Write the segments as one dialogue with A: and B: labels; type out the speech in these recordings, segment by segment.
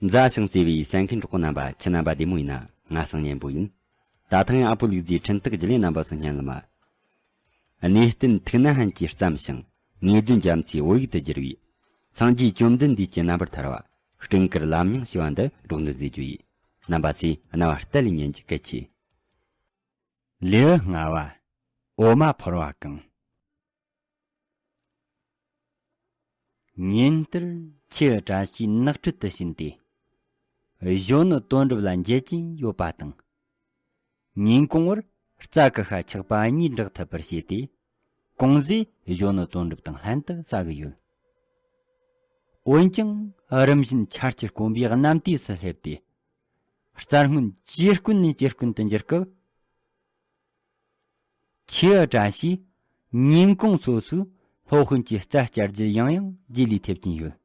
A: མཛའ་ཞིང་བརྩེ་བའི་སེང་གེ་འབྲོག་པོ་རྣམ་པ་ཁྱི་རྣམ་པ་བདེ་མོ་ཡིན་ན་ང་སང་ཉན་པོ་ཡིན། ད་ཐང་ཡང་ཨ་པོ་ལུག་རྫིའི་འཕྲིན་སྟེགས་བརྒྱུད་ལས་རྣམ་པ་སུ་སྙན་ལ་མ། གནས་བརྟན་ཐུགས་ན་ཧན་གྱིས་བརྩམས་ཤིང་ངེས་དོན་རྒྱ་མཚོའི་དབུ་ཡུག་ཏུ་བསྒྱུར་བའི། སངས་རྒྱས་བཅོམ་ལྡན་འདས་ཀྱི་རྣམ་པར་ཐར་བ་སྤྲིན་དཀར་ལམ་ཡང་ཞེས་པ་འདི་འབྲོག་འདུལ་བཟོའི་རྒྱུ་ཡི། རྣམ་པ་ཚེ་རྣ་བར་གཏད་ལས་ཉན་གྱི་སྐལ་ཆེ།
B: ལེའུ་ལྔ་བ། འོ་མ་ཕོར་བ་གང། ཉིན་དེར་ཁྱི་བཀྲ་ཤིས་ནགས་ཁྲོད་དུ་ཕྱིན་ཏེ། གཞོན་ནུ་དོན་གྲུབ་ལ་མཇལ་གྱིན་ཡོད་པ་དང། ཉིན་གུང་བར་རྩྭ་ཀི་ཤ་ཆག་པ་གཉིས་འདྲེག་ཐུབ་པར་བྱས་ཏེ། ཀུང་ཟིས་གཞོན་ནུ་དོན་གྲུབ་དང་ལྷན་དུ་རྩྭ་བསྒུལ་ཡོད། འོན་ཀྱང་རིམ་བཞིན་ཆར་གྱིས་དཀོན་པའི་གནམ་དུས་སུ་སླེབས་ཏེ། རྩྭ་སྔོན་ཇེ་དཀོན་ནས་ཇེ་དཀོན་དུ་འགྱུར་སྐབས། ཆེ་བ་བཀྲ་ཤིས། ཉིན་གུང་སོ་སོའི་སློབ་དཔོན་གྱི་རྩ་བསྐྱར་རྒྱུ་ཡང་ཡང་རྗེས་ལུས་ཐེབས་ཀྱིན་ཡོད།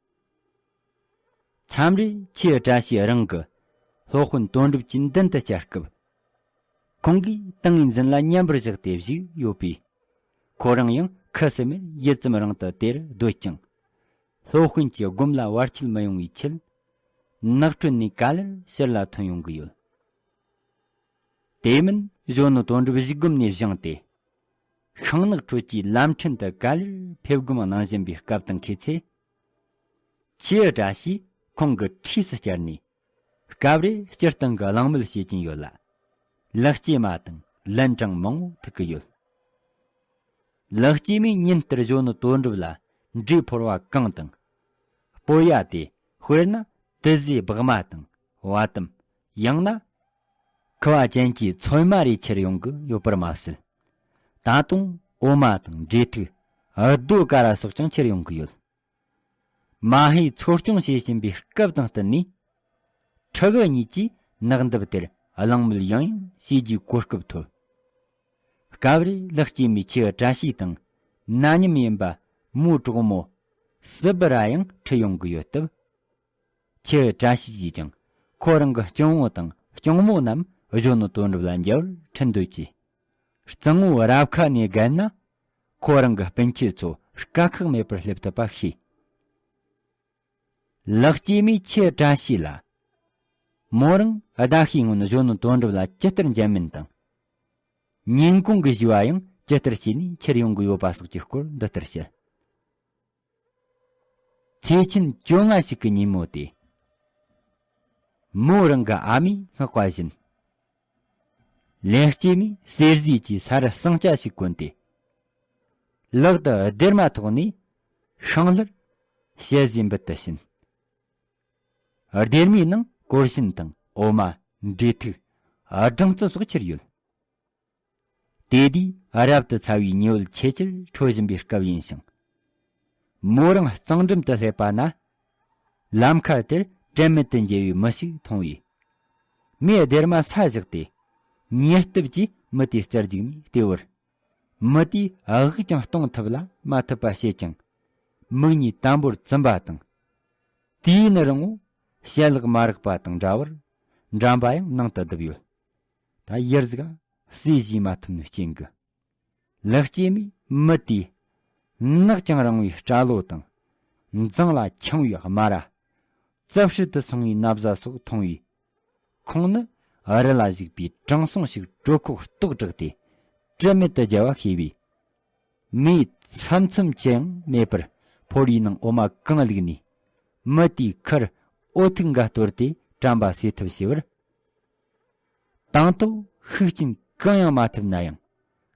B: མཚམས་རེར་ཆེ་བ་བཀྲ་ཤིས་རང་གི་སློབ་དཔོན་དོན་གྲུབ་ཀྱི་མདུན་དུ་བཅར་སྐབས། ཁོང་གིས་ཏིང་ངེ་འཛིན་ལ་མཉམ་པར་བཞག་སྟེ་བཞུགས་ཡོད་པས། ཁོ་རང་ཡང་ཁུ་སིམ་མེར་ཡིད་ཙམ་རང་དུ་དེར་སྡོད་ཅིང། སློབ་དཔོན་གྱི་སྒོམ་ལ་བར་ཆད་མི་ཡོང་བའི་ཆེད། ནགས་ཁྲོད་ནས་ག་ལེར་ཕྱིར་ལ་ཐོན་ཡོང་གི་ཡོད། དེ་མིན་གཞོན་ནུ་དོན་གྲུབ་གཞིས་སྒོམ་ནས་བཞེངས་ཏེ། ཤིང་ནགས་ཁྲོད་ཀྱི་ལམ་ཕྲན་དུ་ག་ལེར་ཕེབས་སྒོམ་གནང་བཞིན་པའི་སྐབས་དང་འཁེལ་ཚེ། ཁྱེད་འདྲ་ཞིག་ཁོང་གི་འཁྲིས་སུ་བསྐྱལ་ནས། སྐབས་རེ་སྤྱིར་བཏང་གི་གླེང་མོལ་བྱེད་ཀྱིན་ཡོད་ལ། ལག་སྐྱེས་མ་དང་ལན་གྲངས་མང་བོ་ཐུག་གི་ཡོད། ལག་སྐྱེས་མས་ཉིན་ལྟར་གཞོན་ནུ་དོན་གྲུབ་ལ་འདྲིས་ཕོར་བ་གང་དང། སྤོས་ཡ་དེ་དཔེར་ན་དུས་བཟོའི་སྦག་མ་དང་བ་དུམ་ཡང་ན། ཁུ་བ་ཅན་གྱི་ཚོད་མ་རེ་ཁྱེར་ཡོང་གི་ཡོད་པར་མ་ཟད། ད་དུང་འོ་མ་དང་འབྲས་ཐིག། རྡོ་ཀ་ར་སོགས་ཀྱང་ཁྱེར་ཡོང་གི་ཡོད། མ་ཧེས་འཚོ་སྐྱོང་བྱེད་བཞིན་པའི་སྐབས་དང་བསྟུན་ནས། ཁྲི་གུ་གཉིས་ཀྱིས་ནགས་འདབས་དེར་གླེང་མོལ་ཡང་ཡང་བྱེད་རྒྱུའི་གོ་སྐབས་ཐོབ། སྐབས་རེ་ལག་སྐྱེས་མའི་ཁྱི་བཀྲ་ཤིས་དང་ན་མཉམ་ཡིན་པ་མོའི་གྲོགས་མོ་སི་པི་ར་ཡང་ཁྲིད་ཡོང་གི་ཡོད་སྟབས། ཁྱི་བཀྲ་ཤིས་ཀྱིས་ཀྱང་ཁོ་རང་གི་གཅུང་བོ་དང་གཅུང་མོ་རྣམས་གཞོན་ནུ་དོན་གྲུབ་ལ་འཇལ་བར་འཕྲིན་འདོད་ཀྱིས། རྩིང་བོ་རབ་ཁ་ནས་བརྒལ་ན་ཁོ་རང་གི་སྤུན་མཆེད་ཚོ་དཀའ་ཁག་མེད་པར་སླེབས་ཐུབ་པ་ཤེས། ལག་སྐྱེས་མས་ཁྱི་བཀྲ་ཤིས་ལ། མོ་རང་ཟླ་ཤས་སྔོན་གཞོན་ནུ་དོན་གྲུབ་ལ་ཇི་ལྟར་འཇལ་མིན་དང། ཉིན་གུང་གི་བཞུ་བ་ཡང་ཇི་ལྟར་བྱས་ནས་འཁྱེར་ཡོང་གི་ཡོད་པ་སོགས་ཀྱི་སྐོར་འདི་ལྟར་བཤད། ཚེས་ཆེན་བཅོ་ལྔ་ཞིག་གི་ཉིན་མོ་སྟེ། མོ་རང་གི་ཨ་མས་བསྔགས་པ་བཞིན། ལེགས་སྐྱེས་མའི་གསེར་བཟོས་ཀྱི་ས་རུ་ཟངས་ལྕགས་ཤིག་བསྐོན་ཏེ། ལག་ཏུ་སྡེར་མ་ཐོགས་ནས་ཤིང་ལྷུར་བྱེད་བཟོས་འབུལ་དུ་ཕྱིན། སྡེར་མའི་ནང་གོར་ཞུན་དང་འོ་མ། འབྲས་ཐིག། སྦྲང་རྩི་སོགས་ཁྱེར་ཡོད། དེ་དུས་རབ་ཏུ་ཚ་བའི་ཉི་འོད་ཆེས་ཆེར་འཕྲོ་བཞིན་པའི་སྐབས་ཡིན་ཞིང། མོ་རང་གཙང་འགྲམ་དུ་སླེབས་པ་ན། ལམ་ཁ་དེར་དྲན་མེད་དུ་འགྱེལ་བའི་མི་ཞིག་མཐོང་བས། མོས་སྡེར་མ་ས་བཞག་སྟེ། ཉེར་ལྟུབ་ཀྱིས་མི་དེའི་རྩར་འཇུག་ནས་ལྟོས་བར། མི་དེས་དབུགས་ཀྱང་གཏོང་ཐུབ་ལ་མ་ཐུབ་པ་ཤེས་ཀྱང། མིག་གཉིས་དམ་པོར་བཙུམ་པ་དང། དུས་ཡུན་རིང་བོ་བྱད་ལག་མ་རག་པ་དང་འདྲ་བར་འགྲམ་པ་ཡང་ནང་དུ་བརྡིབས་ཡོད། ད་ཡར་གཟིགས་ཨ། བསེ་བཞིན་མ་ཐུབ་ནི་སྐྱེན་གི། ལག་སྐྱེས་མའི་མི་དེས། ནག་ཅིང་རིང་བའི་སྐྲ་ལོ་དང། མཛངས་ལ་འཁྱིང་བའི་དམར་ར། རྩབ་ཧྲིལ་དུ་སོང་བའི་མནབ་བཟའ་སོགས་མཐོང་བས། ཁོང་ནི་ཨ་རི་ལ་བཞུགས་པའི་དྲང་སྲོང་ཞིག་གྲོད་ཁོག་ལྟོགས་དྲགས་ཏེ་དྲི་མེད་དུ་རྒྱལ་བ་ཤེས་པས། མེའི་ཚམ་ཚོམ་ཅི་ཡང་མེད་པར་ཕོར་བའི་ནང་འོ་མ་གང་བླུགས་ནས། མི་དེའི་ཁར་ཨོ་ཐུག་འགའ་གཏོར་ཏེ་བཀྲམ་པ་སེལ་ཐུབ་ཞེས་པར། དང་ཐོག་ཤུགས་རྐྱེན་གང་ཡང་མ་ཐེབས་ན་ཡང།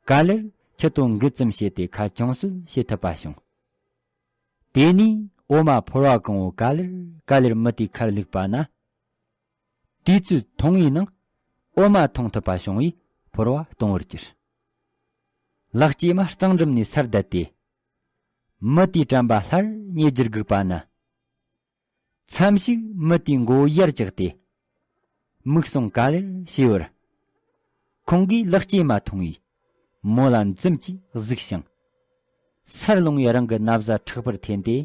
B: ག་ལེར་ཁྱི་དོ་འགུལ་ཙམ་བྱས་ཏེ་ཁ་བྱང་གསོད་བྱེད་ཐུབ་པ་བྱུང། དེ་ནས་འོ་མ་ཕོར་བ་གང་བོ་ག་ལེར་ག་ལེར་མི་དེའི་ཁར་བླུགས་པ་ན། དུས་ཚོད་ཐུང་བའི་ནང་འོ་མ་འཐུང་ཐུབ་པ་བྱུང་བས་ཕོར་བ་སྟོང་བར་གྱུར། ལག་སྐྱེས་མ་གཙང་སྒྲུབ་ནས་སར་བསྡད་དེ། མི་དེའི་དྲན་པ་སླར་ཉེ་རྒྱུར་སྒུག་པ་ན། མཚམས་ཤིག་མི་དེའི་མགོ་བོ་ཡར་བཀྱགས་ཏེ། མིག་ཟུང་ག་ལེར་བྱས་པར། ཁོང་གིས་ལག་སྐྱེས་མ་མཐོང་བས། མོ་ལ་འཛུམ་གྱིས་གཟིགས་ཤིང། སར་ལྷུང་བའི་རང་གི་ན་བཟའ་ཕྲག་པར་འཐེན་ཏེ།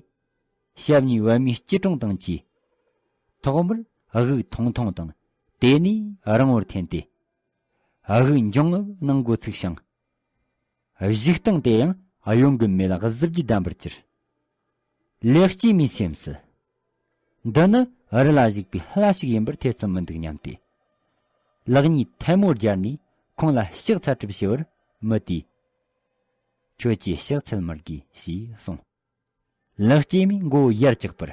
B: ཞབས་གཉིས་བད་མོའི་སྐྱིལ་ཀྲུང་དང་བཅས། ཐོག་མར་དབུགས་ཐུང་ཐུང་དང་དེ་ནས་རིང་བོར་འཐེན་ཏེ། དབུགས་འབྱུང་ངམ་སྣང་མགོ་ཚུགས་ཤིང། གཞུག་སྟངས་དེ་ཡང་གཡོན་གྱི་མེ་ལ་གཟི་བརྗིད་ལྡན་པར་གྱུར། ལེགས་སྐྱེས་མའི་སེམས་སུ། འདི་ནི་རི་ལ་བཞུགས་པའི་ལྷ་ཞིག་ཡིན་པར་ཐེ་ཚོམ་མི་འདུག་སྙམ་སྟེ། ལག་གཉིས་ཐལ་མོ་སྦྱར་ནས་ཁོང་ལ་ཕྱག་འཚལ་གྲུབ་ཞུ་བར་མི་དེས། ཁྱོད་ཀྱིས་ཕྱག་འཚལ་མི་དགོས་ཞེས་གསུངས། ལག་སྐྱེས་མའི་མགོ་བོ་ཡར་བཀྱག་པར།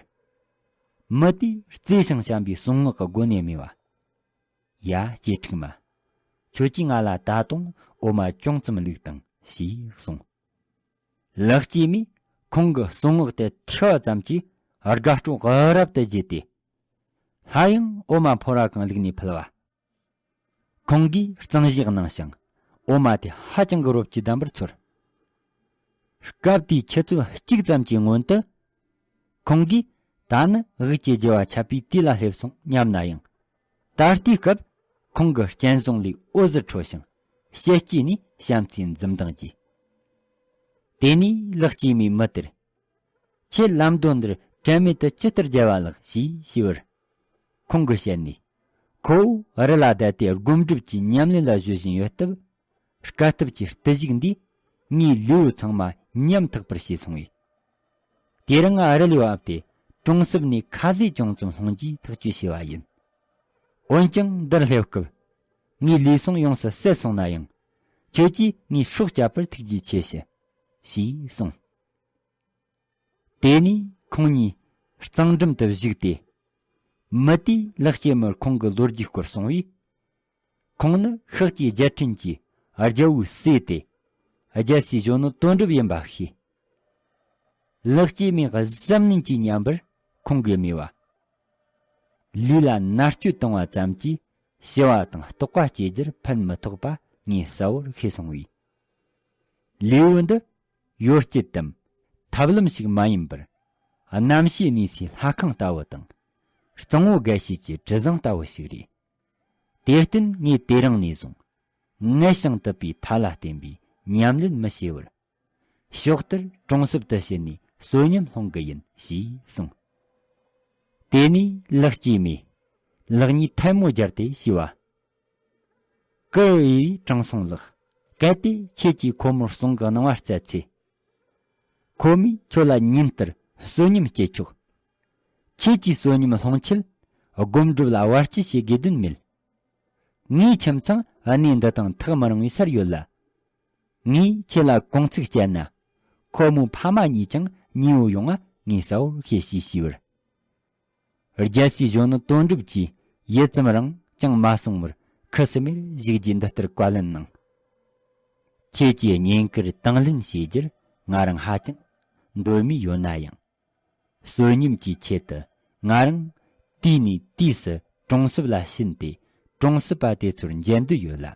B: མི་དེས་བརྩེ་ཞིང་བྱམས་པའི་གསུང་ངག་གི་སྒོ་ནས་སྨྲས་པ། ཡ་སྐྱེས་ཕྲུག་མ། ཁྱོད་ཀྱིས་ང་ལ་ད་དུང་འོ་མ་ཅུང་ཙམ་བླུགས་དང་ཞེས་གསུངས། ལག་སྐྱེས་མས་ཁོང་གི་གསུང་ངག་དེ་ཐོས་བ་ཙམ་གྱིས་དགའ་སྤྲོ་རབ་ཏུ་བརྗེད་དེ། སླར་ཡང་འོ་མ་ཕོར་བ་གང་བླུགས་ནས་ཕུལ་བ། ཁོང་གིས་གཙང་བཞེས་གནང་ཞིང། འོ་མ་དེ་ཧ་ཅང་གི་རོབ་ཀྱིས་བསྡམས་པར་ཚོར། སྐབས་དེའི་ཆུ་ཚོད་གཅིག་ཙམ་གྱི་སྔོན་དུ། ཁོང་གིས་ད་ནི་དབུས་ཀྱི་རྒྱལ་བ་ཆབ་པའི་དུས་ལ་སླེབས་སོང་སྙམ་ན་ཡང། ད་ལྟའི་སྐབས་ཁོང་གི་སྤྱན་བཟང་ལས་འོད་ཟེར་འཕྲོ་ཞིང། ཞལ་དཀྱིལ་ནས་བྱམས་བརྩེའི་འཛུམ་མདངས་རྒྱས། དེ་ནས་ལག་སྐྱེས་མའི་མི་དེར། ཁྱེད་ལམ་དོན་འདིར་དྲན་མེད་དུ་ཇི་ལྟར་བརྒྱལ་བ་ལགས་ཞེས་ཞུས་པར། ཁོང་གིས་བཤད་ནས། ཁོ་བོས་རི་ལ་བསྡད་དེ་སྒོམ་སྒྲུབ་ཀྱི་ཉམས་ལེན་ལ་གཞོལ་བཞིན་ཡོད་སྟབས། སྐལ་སྟབས་ཀྱི་བརྟུལ་ཞུགས་འདིས་ངའི་ལུས་ཚང་མ་ཉམ་ཐག་པར་བྱས་སོང་བས། དེར་ང་རི་ལས་བབས་ཏེ་གྲོང་གསེབ་ནས་ཁ་ཟས་ཅུང་ཙམ་སློང་རྒྱུའི་ཐག་གཅོད་བྱས་པ་ཡིན། འོན་ཀྱང་འདིར་སླེབས་སྐབས། ངའི་ལུས་ཟུངས་ཡོངས་སུ་ཟད་སོང་ན་ཡང། ཁྱོད་ཀྱིས་ངའི་སྲོག་བསྐྱབས་པར་ཐུགས་རྗེ་ཆེ་ཞུ། ཞེས་གསུངས། དེ་ནས་ཁོང་གཉིས་གཙང་འགྲམ་དུ་བཞུགས་ཏེ། མི་དེས་ལག་སྐྱེས་མར་ཁོང་གི་ལོ་རྒྱུས་སྐོར་གསུངས་པས། ཁོང་ནི་ཤག་ཅེས་རྒྱལ་ཕྲན་གྱིས་རྒྱལ་བོའི་སྲས་ཏེ། རྒྱལ་སའི་གཞུང་ནི་དོན་གྲུབ་ཡིན་པ་ཤེས། ལག་སྐྱེས་མས་གཟབ་ནན་གྱིས་ཉམས་པར་ཁོང་གིས་སྨྲས་པ། ལུས་ལ་མནར་གཅོད་བཏང་བ་ཙམ་གྱིས་ཞི་བ་དང་རྟོགས་པ་སྐྱེ་རྒྱུར་ཕན་མི་ཐོགས་པ་ངས་གསལ་བོར་ཤེས་སོང་བས། ལེའུ་འདི་ཡོ་བྱད་དམ་ཐབས་ལམ་ཞིག་མ་ཡིན་པར། རྣམ་ཤེས་གནས་སའི་ལྷ་ཁང་ལྟ་བུ་དང། གཙང་བོ་དགའ་བྱེད་ཀྱི་དྲི་བཟང་ལྟ་བུ་ཞིག་རེད། དེར་བརྟེན་ངས་དེ་རིང་ནས་བཟུང། མངལ་ཞིང་དུད་པའི་མཐའ་ལ་བརྟེན་པའི་ཉམས་ལེན་མི་བྱེད་བར། ཕྱོགས་དེར་གྲོང་གསེབ་ཏུ་ཕྱིན་ནས་བསོད་སྙོམས་སློང་གི་ཡིན་ཞེས་གསུངས། དེ་ནས་ལག་སྐྱེས་མས། ལག་གཉིས་ཐལ་མོ་སྦྱར་ཏེ་ཤི་བ། ཀུའེ་ཡིས་དྲང་སྲོང་ལགས། གལ་ཏེ་ཁྱེད་ཀྱིས་ཁོ་མོར་གསུང་གི་གནང་བ་བསྩལ་ཚེ། ཁོ་མོས་ཁྱོད་ལ་ཉིན་ལྟར་བསོད་སྙོམས་སྐྱེས་ཆོག། ཁྱེད་ཀྱིས་བསོད་སྙོམས་སློང་ཆེད་སྒོམ་སྒྲུབ་ལ་བར་ཆད་བྱེད་དགོས་དོན་མེད། ངའི་ཁྱིམ་ཚང་གནས་འདི་དང་ཐག་མི་རིང་བའི་སར་ཡོད་ལ། ངས་ཁྱེད་ལ་གུང་ཚིགས་བཅད་ན། ཁོ་མོའི་ཕ་མ་གཉིས་ཀྱང་ཉེའུ་ཡོང་ང་ངས་གསལ་བོར་ཤེས་ཞེས་ཞུས་པར། རྒྱལ་སྲིད་གཞུང་ནི་དོན་གྲུབ་ཀྱིས་ཡུད་ཙམ་རིང་ཅང་མ་གསུང་བར་ཁུ་སིམ་མེར་བཞུགས་རྗེས་འདི་ལྟར་བཀའ་ལན་གནང། ཁྱེད་ཀྱིས་ཉེན་བཀུར་དང་ལེན་བྱེད་རྒྱུར་ང་རང་ཧ་ཅང་འདོད་མོས་ཡོད་ན་ཡང། བསོད་སྙོམས་ཀྱི་ཆེད་དུ་ང་རང་དུས་ནས་དུས་སུ་གྲོང་གསེབ་ལ་ཕྱིན་ཏེ་གྲོང་གསེབ་པ་དེ་ཚོར་མཇལ་འདོད་ཡོད་ལ།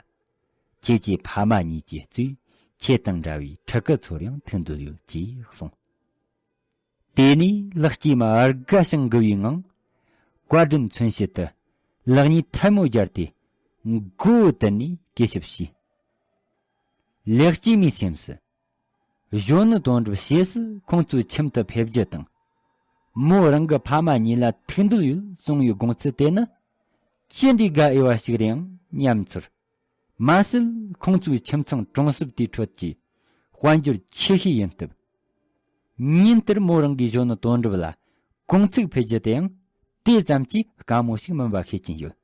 B: ཁྱེད་ཀྱི་ཕ་མ་གཉིས་ཀྱི་གཙོས་ཁྱེད་དང་འདྲ་བའི་ཕྲུ་གུ་ཚོར་ཡང་ཐུག་འདོད་ཡོད་ཅེས་གསུངས། དེ་ནས་ལག་སྐྱེས་མ་ཨར་ག་བྱང་དགུ་བའི་ངང། བཀའ་དྲིན་མཚོན་བྱེད་དུ་ལག་གཉིས་ཐལ་མོ་སྦྱར་ཏེ། མགོ་བོ་དུད་ནས་བཀས་ཞབས་ཞུས། ལེགས་སྐྱེས་མའི་སེམས་སུ། གཞོན་ནུ་དོན་གྲུབ་ཞེས་སུ་ཁོང་ཚོའི་ཁྱིམ་དུ་ཕེབས་རྒྱུ་དང། མོ་རང་གི་ཕ་མ་གཉིས་ལ་ཐུགས་འདོད་ཡོད་གསུངས་ཡོད་དགོངས་ཚུལ་དེ་ནི། ཅི་འདྲའི་དགའ་འོས་བ་ཞིག་རེད་ཨང་སྙམ་ཚོར། མ་ཟད་ཁོང་ཚོའི་ཁྱིམ་ཚང་གྲོང་གསེབ་དེའི་ཁྲོད་ཀྱི་དཔལ་འབྱོར་ཆེ་ཤོས་ཡིན་སྟབས། ཉིན་ལྟར་མོ་རང་གིས་གཞོན་ནུ་དོན་གྲུབ་ལ་དགུང་ཚིགས་འཕེལ་རྒྱུ་དེའང་དེ་ཙམ་གྱིས་དཀའ་མོ་ཞིག་མིན་པ་ཤེས་ཀྱིན་ཡོད།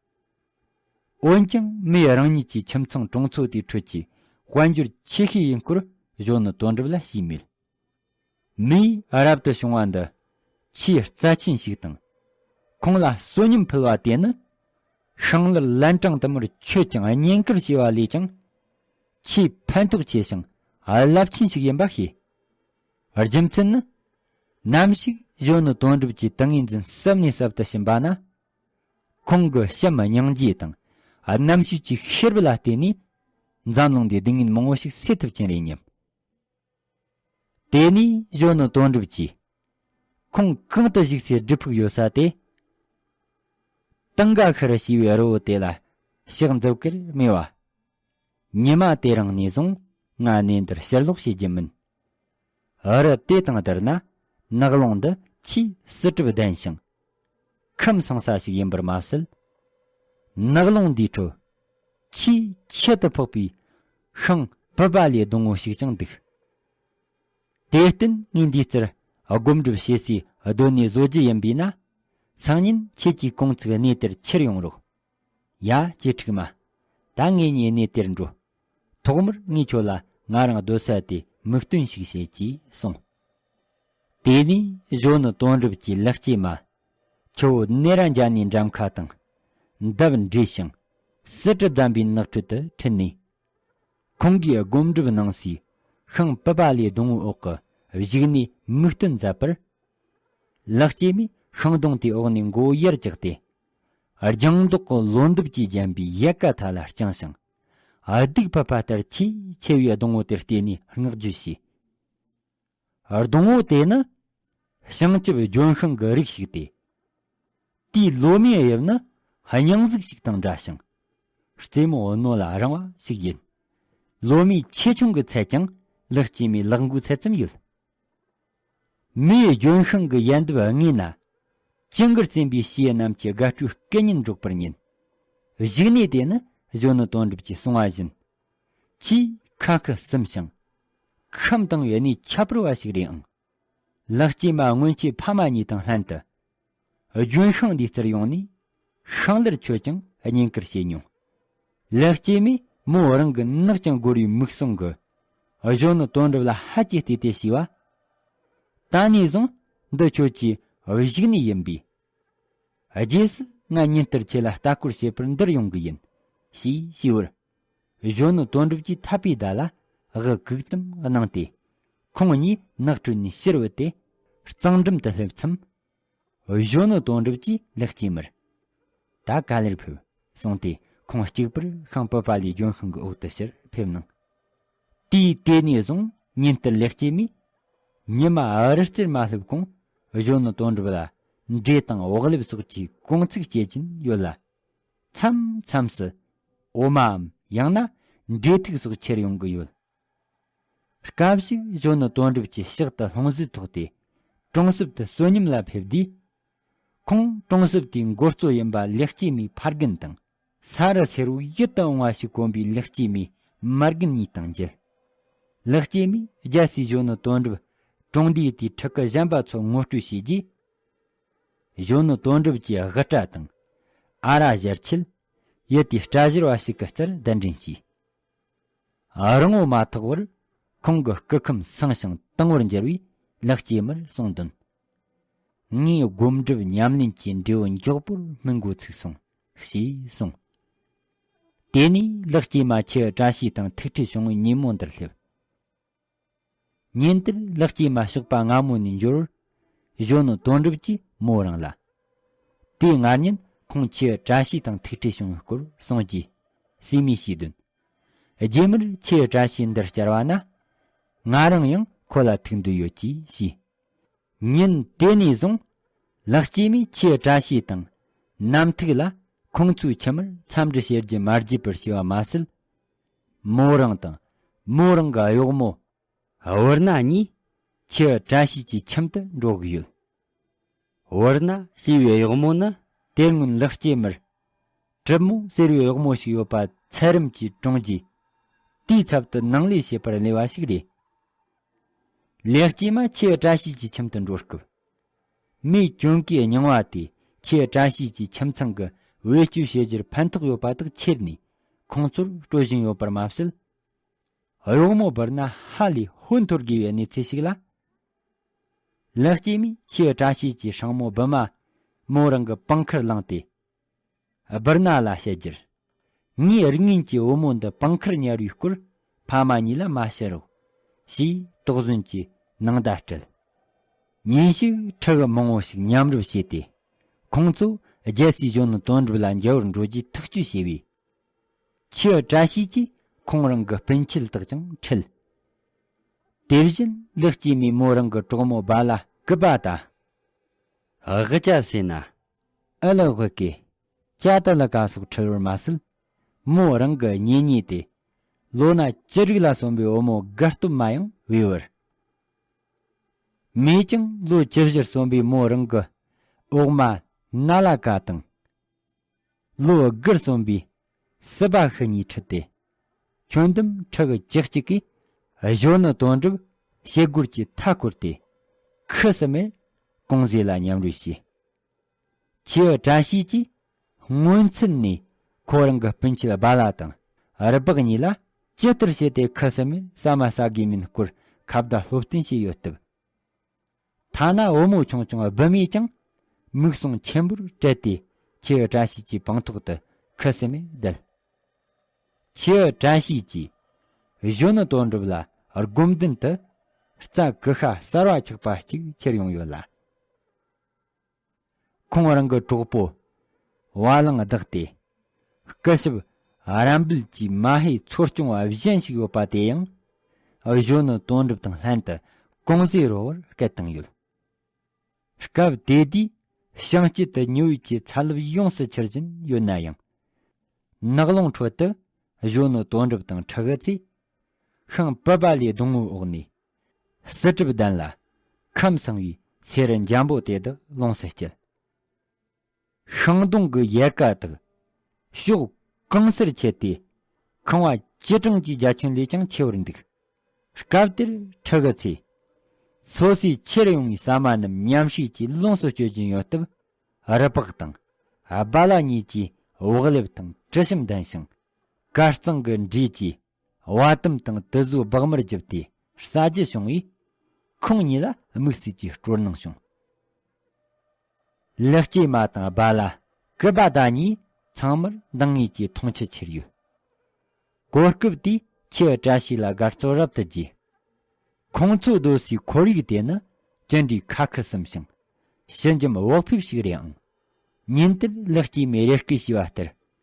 B: འོན་ཀྱང་མོས་རང་ཉིད་ཀྱི་ཁྱིམ་ཚང་གྲོང་ཚོ་དེའི་ཁྲོད་ཀྱི་དཔལ་འབྱོར་ཆེ་ཤོས་ཡིན་སྐོར་གཞོན་ནུ་དོན་གྲུབ་ལ་ཞུས་མེད། མིའི་རབ་ཏུ་བྱུང་བ་འདི་ཆེས་རྩ་ཆེན་ཞིག་དང། ཁོང་ལ་བསོད་སྙོམས་ཕུལ་བ་དེ་ནི་ཧྲང་ལི་ལན་ཀྲང་དུ་མར་ཆོས་ཀྱང་བསྙེན་བཀུར་བྱས་པ་ལས་ཀྱང་ཆེས་ཕན་ཐོགས་ཆེ་ཞིང་རླབས་ཆེན་ཞིག་ཡིན་པ་ཤེས། རྒྱུ་མཚན་ནི། ནམ་ཞིག་གཞོན་ནུ་དོན་གྲུབ་ཀྱི་ཏིང་ངེ་འཛིན་ཟབ་ནས་ཟབ་ཏུ་ཕྱིན་པ་ན། ཁོང་གི་བྱམས་སྙིང་རྗེ་དང་རྣམ་དཔྱོད་ཀྱི་ཤེས་རབ་ལ་བརྟེན་ནས་འཛམ་གླིང་འདིའི་སྡུག་བསྔལ་མང་བོ་ཞིག་སེལ་ཐུབ་ཀྱིན་རེད་སྙམ། དེ་ནས་གཞོན་ནུ་དོན་གྲུབ་ཀྱིས། ཁོང་གང་དུ་བཞུགས་སའི་སྒྲུབ་ཕུག་ཡོད་ས་དེ། ཏང་ག་ཁུ་རུ་ཞེས་པའི་རི་བོ་དེ་ལ་ཕྱག་འཛུབ་ཀིར་སྨྲས་བ། ཉི་མ་དེ་རིང་ནས་བཟུང་ང་གནས་འདིར་ཕྱིར་ལོག་བྱེད་ཀྱི་མིན། རི་དེ་དང་བསྡུར་ན་ནགས་ཀློང་འདི་ཆེས་བསིལ་གྲིབ་ལྡན་ཞིང་ཁམས་གསང་ས་ཞིག་ཡིན་པར་མ་ཟད། ནགས་ཀློང་འདིའི་ཁྲོད། ཆེས་ཁྱད་དུ་འཕགས་པའི་ཤིང་བུ་པ་ལས་སྡོང་བོ་ཞིག་ཀྱང་འདུག། དེར་བརྟེན་ངས་འདིའི་རྩེར་སྒོམ་སྒྲུབ་བྱེད་སའི་སྡོད་གནས་བཟོ་རྒྱུ་ཡིན་པས་ན། སང་ཉིན་ཁྱེད་ཀྱིས་གོང་ཚིགས་གནས་དེར་ཁྱེར་ཡོང་རོགས། ཡ། ཀྱེ་ཁྲིག་མ། ད་ངས་ཉེ་གནས་དེར་འགྲོ། ཐོག་མར་ངས་ཁྱོད་ལ་ང་རང་སྡོད་ས་དེ་མིག་སྟོན་ཞིག་བྱེད་ཅེས་གསུངས། དེ་ནས་གཞོན་ནུ་དོན་གྲུབ་ཀྱིས་ལེགས་སྐྱེས་མ། ཁྱོད་གནས་ར་འཇགས་ནས་འགྲམ་ཁ་དང། འདབ་འབྲས་ཤིང། སྲི་གྲི་བསྡམས་པའི་ནགས་ཁྲོད་དུ་ཁྲིད་ནས། ཁོང་གིས་སྒོམ་སྒྲུབ་གནང་སའི་ཤིང་པི་པ་ལའི་སྡོང་བོའི་འོག་གི་བཞུགས་གནས་མིག་སྟོན་མཛད་པར། ལེགས་སྐྱེས་མས་ཤིང་སྡོང་དེའི་འོག་ནས་མགོ་ཡར་བཀྱགས་ཏེ། ལྗང་མདོག་གི་ལོ་འདབ་ཀྱིས་བརྒྱན་པའི་ཡལ་ག་མཐའ་ལ་བརྐྱངས་ཤིང། སྡུག་ཕབ་པ་ལྟར་ཆེས་ཆེ་བའི་སྡོང་བོ་དེར་བལྟས་ནས་བསྔགས་བརྗོད་བྱས། སྡོང་བོ་དེ་ནི་བྱང་ཆུབ་ལྗོན་ཤིང་གི་རིགས་ཤིག་སྟེ། དེའི་ལོ་མའི་དབྱིབས་ནི་སྙིང་གཟུགས་ཤིག་དང་འདྲ་ཞིང། རྩེ་མོ་རྣོ་ལ་རིང་བ་ཞིག་ཡིན། ལོ་མའི་ཆེ་ཆུང་གི་ཚད་ཀྱང་ལག་སྐྱེས་མའི་ལག་མགོའི་ཚད་ཙམ་ཡོད། མིའི་ལྗོན་ཤིང་གི་ཡལ་འདབ་ལྔས་ན། ཅི་འགར་རྩེན་པའི་བྱའི་རྣམས་ཀྱི་དགའ་སྤྲོའི་སྐད་སྙན་སྒྲོག་པར་ཉན། བཞུགས་གནས་དེ་ནི་གཞོན་ནུ་དོན་གྲུབ་ཀྱི་གསུང་བ་བཞིན། ཆེས་ཁ་སྐད་གསུམ་ཞིང། ཁམས་དང་ཡུལ་ནས་ཁྱད་པར་བ་ཞིག་རེད་ཨང། ལག་སྐྱེས་མ་སྔོན་ཆད་ཕ་མ་གཉིས་དང་ལྷན་དུ་ལྗོན་ཤིང་འདིའི་རྩར་ཡོང་ནས་ཤིང་ལར་ཁྱོད་ཀྱང་བརྙན་བསྐུར་བྱེད་མྱོང། ལེགས་སྐྱེས་མས་མོ་རང་གི་ནག་ཅིང་སྒོར་བའི་མིག་ཟུང་གི་གཞོན་ནུ་དོན་གྲུབ་ལ་ཧད་ཀྱིས་བལྟས་ཏེ་ཞུས་བ། ད་ནས་བཟུང་འདི་ཁྱོད་ཀྱི་བཞུགས་གནས་ཡིན་པས། རྗེས་སུ་ང་ཉིན་ལྟར་ཁྱེད་ལ་ལྟ་སྐོར་བྱེད་པར་འདིར་ཡོང་གི་ཡིན། ཞེས་ཞུས་པར། གཞོན་ནུ་དོན་གྲུབ་ཀྱིས་ཐར་པའི་བརྡ་ལ་དབུ་གུག་ཙམ་གནང་སྟེ་ཁོང་གཉིས་ནགས་ཁྲོད་ནས་ཕྱིར་བུད་དེ་གཙང་འགྲམ་དུ་སླེབས་མཚམས། གཞོན་ནུ་དོན་གྲུབ་ཀྱིས་ལེགས་སྐྱེས་མར་ད་ག་ལེར་ཕེབས་གསུངས་ཏེ་ཁོང་གཅིག་པུར་ཤིང་བུད་པ་ལས་ལྗོན་ཤིང་གི་འོག་ཏུ་ཕྱིར་ཕེབས་གནང། དུས་དེ་ནས་བཟུང་ཉིན་ལྟར་ལེགས་སྐྱེས་མས་ཉི་མ་རི་རྩེར་མ་སླེབས་གོང་གཞོན་ནུ་དོན་གྲུབ་ལ་འབྲས་དང་བག་ལེབ་སོགས་ཀྱི་གོང་ཚིགས་བཤད་ཀྱིན་ཡོད་ལ། མཚམས་མཚམས་སུ་འོ་མའམ་ཡང་ན་འབྲས་ཐིག་སོགས་ཁྱེར་ཡོང་གི་ཡོད། སྐབས་ཤིག་གཞོན་ནུ་དོན་གྲུབ་ཀྱིས་ཕྱག་ཏུ་ལྷུང་བཟེད་ཐོགས་ཏེ་གྲོང་གསེབ་ཏུ་བསོད་སྙོམས་ལ་ཕེབས་དུས། ཁོང་གྲོང་གསེབ་དེའི་མགོ་གཙོ་ཡིན་པ་ལེགས་སྐྱེས་མའི་ཕ་རྒན་དང། ས་རུ་ཚེར་བུ་ཡིད་དུ་འོང་བ་ཞིག་གོན་པའི་ལེགས་སྐྱེས་མའི་མ་རྒན་གཉིས་དང་མཇལ། ལེགས་སྐྱེས་མས་རྒྱལ་སའི་གཞོན་ནུ་དོན་གྲུབ་གྲོང་སྡེའི་དེའི་ཕྲུ་གུ་གཞན་པ་ཚོར་ངོ་སྤྲོད་བྱས་རྗེས། གཞོན་ནུ་དོན་གྲུབ་ཀྱིས་དབུ་སྐྲ་དང། ཨ་ར་བཞེར་ཆེད། ཡུལ་དེའི་སྐྲ་བཞེར་བ་ཞིག་གི་རྩར་གདན་འདྲེན་བྱས། རི་ངོ་མ་ཐག་པར་ཁོང་གི་སྐུ་ཁམས་སངས་ཤིང་དྭངས་བར་འགྱུར་བས་ལེགས་སྐྱེས་མར་གསུངས་དོན། ངའི་སྒོམ་སྒྲུབ་ཉམས་ལེན་གྱི་འབྲས་བུ་མགྱོགས་པོར་སྨིན་འགོ་ཚུགས་སོང། ཞེས་གསུངས། དེ་ནས་ལེགས་སྐྱེས་མ་ཁྱེད་བཀྲ་ཤིས་དང་ཐུགས་ཁྲེལ་བྱུང་ཉིན་མོ་འདིར་སླེབས། ཉིན་དེར་ལག་སྐྱེས་མ་ཞོགས་པ་སྔ་མོ་ནས་འབྱོར། གཞོན་ནུ་དོན་གྲུབ་ཀྱིས་མོ་རང་ལ། དེ་སྔ་ཉིན་ཁོང་ཁྱི་བཀྲ་ཤིས་དང་ཐུག་འཕྲད་བྱུང་བའི་སྐོར་གསུངས་རྗེས། བསུས་མོས་ཤེས་དོན། རྗེས་མར་ཁྱི་བཀྲ་ཤིས་འདིར་བསྐྱལ་བ་ན། ང་རང་ཡང་ཁོ་ལ་ཐུག་འདོད་ཡོད་ཅེས་བཤད། ཉིན་དེ་ནས་བཟུང། ལག་སྐྱེས་མས་ཁྱི་བཀྲ་ཤིས་དང། རྣམ་ཐུག་ལ་ཁོང་ཚོའི་ཁྱིམ་མིར་འཚམས་འདྲི་བྱེད་རྒྱུ་མ་བརྗེད་པར་བྱས་པ་མ་ཟད། མོ་རང་དང། མོ་རང་གི་གཡོག་མོ། བྷུར་ན་གཉིས། ཁྱི་བཀྲ་ཤིས་ཀྱི་ཁྱིམ་དུ་འགྲོ་གི་ཡོད། བྷུར་ན་ཞེས་པའི་གཡོག་མོ་ནི་དེ་སྔོན་ལེགས་སྐྱེས་མར། གྲིབ་མོ་ཟེར་བའི་གཡོག་མོ་ཞིག་ཡོད་པ་ཚད་རིམ་གྱིས་བཀྲོངས་རྗེས། དེའི་ཚབ་ཏུ་ནང་ལས་བྱེད་པར་གནས་པ་ཞིག་རེད། ལེགས་སྐྱེས་མ་ཁྱི་བཀྲ་ཤིས་ཀྱི་ཁྱིམ་དུ་འགྲོ་སྐབས། མིའི་སྐྱོན་གྱིས་རྙིང་བ་དེ་ཁྱེད་བཀྲ་ཤིས་ཀྱི་ཁྱིམ་ཚང་གི་བེད་སྤྱོད་བྱེད་རྒྱུར་ཕན་ཐོགས་ཡོད་པ་དག་ཁྱེར་ནས་ཁོང་ཚོར་སྤྲོད་བཞིན་ཡོད་པར་མ་ཟད། རོགས་མོ་བར་ན་ཧ་ལས་ཧོན་འཐོར་དགོས་པའི་གནས་ཚུལ་ཞིག་ལ། ལེགས་སྐྱེས་མས་ཁྱེད་བཀྲ་ཤིས་ཀྱི་ཧྲང་མོ་བི་མ་མོ་རང་གི་པང་ཁར་བླངས་ཏེ། སྦིར་ན་ལ་བཤད་རྒྱུར། ངའི་རིགས་ངན་གྱི་བུ་མོ་འདི་པང་ཁར་ཉལ་བའི་སྐོར་ཕ་མ་གཉིས་ལ་མ་བཤད་རོགས། ཞེས་དོགས་ཟོན་གྱི་ནང་བརྡ་སྤྲད། ཉིན་ཞིག་ཁྲི་ཀ་མང་བོ་ཞིག་མཉམ་རུབ་བྱས་ཏེ། ཁོང་ཚོས་རྒྱལ་སའི་གཞོན་ནུ་དོན་གྲུབ་ལ་མཇལ་བར་འགྲོ་རྒྱུའི་ཐག་གཅོད་བྱས་པས། ཁྱི་བཀྲ་ཤིས་ཀྱིས་ཁོང་རང་གི་སྤུན་མཆེད་དག་ཀྱང་ཁྲིད། དེ་བཞིན་ལེགས་སྐྱེས་མའི་མོ་རང་གི་གྲོགས་མོ་སྦ་ལ་སྐུད་པ་དང། དབུ་
A: སྐྱ་ཟེར་ན་ཨེ་ལགས་བོད་
B: སྐད། ཅ་ཏི་ལ་ཀ་སོགས་ཁྲེལ་བར་མ་སྲིད། མོ་རང་གི་གཉེན་ཉེ་དེ། ལོ་ན་ཅི་རིགས་ལ་སོན་པའི་བུ་མོ་དགའ་སྟོབས་མ་ཡང་དབུལ་བར། མེད་ཀྱང་ལོ་ཅི་བཞིར་སོན་པའི་མོ་རང་གི་ཨོག་མ་སྣ་ལ་ཀ་དང། ལོ་དགུར་སོན་པའི་སྲིད་པ་ཤི་གཉིས་ཁྲི་སྟེ། ཁྱོན་བསྡོམས་ཁྲི་བརྒྱད་གཅིག་གིས། གཞོན་ནུ་དོན་གྲུབ་བྱེད་སྒོར་གྱི་མཐའ་བསྐོར་ཏེ། ཁུ་སིམ་མེར་ཀོང་ཟས་ལ་མཉམ་རོལ་བྱས། ཁྱེའུ་བཀྲ་ཤིས་ཀྱིས་སྔོན་ཚུད་ནས་ཁོ་རང་གི་སྤུན་མཆེད་སྦ་ལ་དང་རི་སྦག་གཉིས་ལ་ཇི་ལྟར་བྱས་ཏེ་ཁུ་སིམ་མེར་ཟ་མ་ཟ་དགོས་མིན་སྐོར་ཁ་བརྡ་སློབ་སྟོན་བྱས་ཡོད་སྟབས། ཐ་ན་བུ་མོ་ཆུང་ཆུང་སྦུད་མས་ཀྱང་མིག་ཟུང་ཆེན་པོར་བཀྲལ་ཏེ་ཁྱེའུ་བཀྲ་ཤིས་ཀྱི་བང་ཐོག་ཏུ་ཁུ་སིམ་མེར་བསྡད། ཁྱེའུ་བཀྲ་ཤིས་ཀྱིས་གཞོན་ནུ་དོན་གྲུབ་ལ་སྒོམ་མདུན་དུ་རྩྭ་ཀུ་ཤ་གསར་བ་ཆགས་པ་གཅིག་ཁྱེར་ཡོང་ཡོད་ལ། ཁོང་རང་གི་གྲོགས་པོ་བ་གླང་བདག་དེ་སྐུ་ཞབས་རམ་སྦིལ་གྱིས་མ་ཧེ་འཚོ་སྐྱོང་བ་གཞན་ཞིག་ཡོད་པ་དེ་ཡང་གཞོན་ནུ་དོན་གྲུབ་དང་ལྷན་དུ་ཀུང་ཟིའི་རོགས་བར་སྐད་བཏང་ཡོད། སྐབས་དེ་དུས་ཤང་དཀྱིལ་དུ་ཉི་འོད་ཀྱི་ཚ་རླབས་ཡོངས་སུ་འཕྱུར་བཞིན་ཡོད་ན་ཡང། ནགས་ཀློང་ཁྲོད་དུ་གཞོན་ནུ་དོན་གྲུབ་དང་ཁྲག་རྩེ་ཤིང་བུད་པ་ལས་སྡོང་བོའི་འོག་ནས་བསིལ་གྲིབ་ལྡན་ལ། ཁམས་བསྲིང་བའི་ཚེ་རི་འཇམ་པོ་དེ་དག་ལོངས་སུ་སྤྱད། ཤིང་སྡོང་གི་ཡལ་ག་དག་ཕྱོགས་གང་སར་ཁྱེར་ཏེ། ཁང་བ་སྤྱི་གྲངས་ཀྱི་རྒྱ་ཁྱོན་ལས་ཀྱང་ཆེ་བར་འདུག། སྐབས་དེར་ཁྲི་གི་ཚེ། འཚོ་སའི་ཕྱིར་ཡོང་བའི་ཟ་མ་རྣམས་ཉམས་ཞིག་ཅིག་ལོངས་སུ་སྤྱོད་ཀྱིན་ཡོད་སྟབས། རི་ལྤགས་དང་སྦ་ལ་གཉིས་ཀྱིས་བག་ལེབ་དང་དྲི་ཞིམ་ལྡན་ཞིང། དཀར་གཙང་གི་འབྲས་ཀྱིས་བ་དུམ་དང་དུ་བཟོ་སྦག་མར་བརྒྱབ་སྟེ་ཟ་རྒྱུ་བྱུང་བས། ཁོང་གཉིས་ལ་དམིགས་བསལ་གྱི་སྤྲོ་སྣང་བྱུང། ལེགས་སྐྱེས་མ་དང་རྦ་ལ་ཀི་པ་ད་གཉིས་ཚང་མར་འདང་ངེས་ཀྱི་མཐོང་ཆེན་ཁྱེར་ཡོད། གོ་སྐབས་དེས་ཁྱི་བཀྲ་ཤིས་ལ་དགའ་སྤྲོ་རབ་ཏུ་རྒྱས། ཁོང་ཚོས་སྡོད་སའི་ཁོར་ཡུག་དེ་ནི་ཅི་འདྲའི་ཁ་ཁུ་སིམ་ཞིང་ཞི་འཇམ་བག་ཕེབས་ཤིག་རེད་ཨང། ཉིན་དེར་ལེགས་སྐྱེས་མས་རེ་སྐུལ་བྱས་པ་ལྟར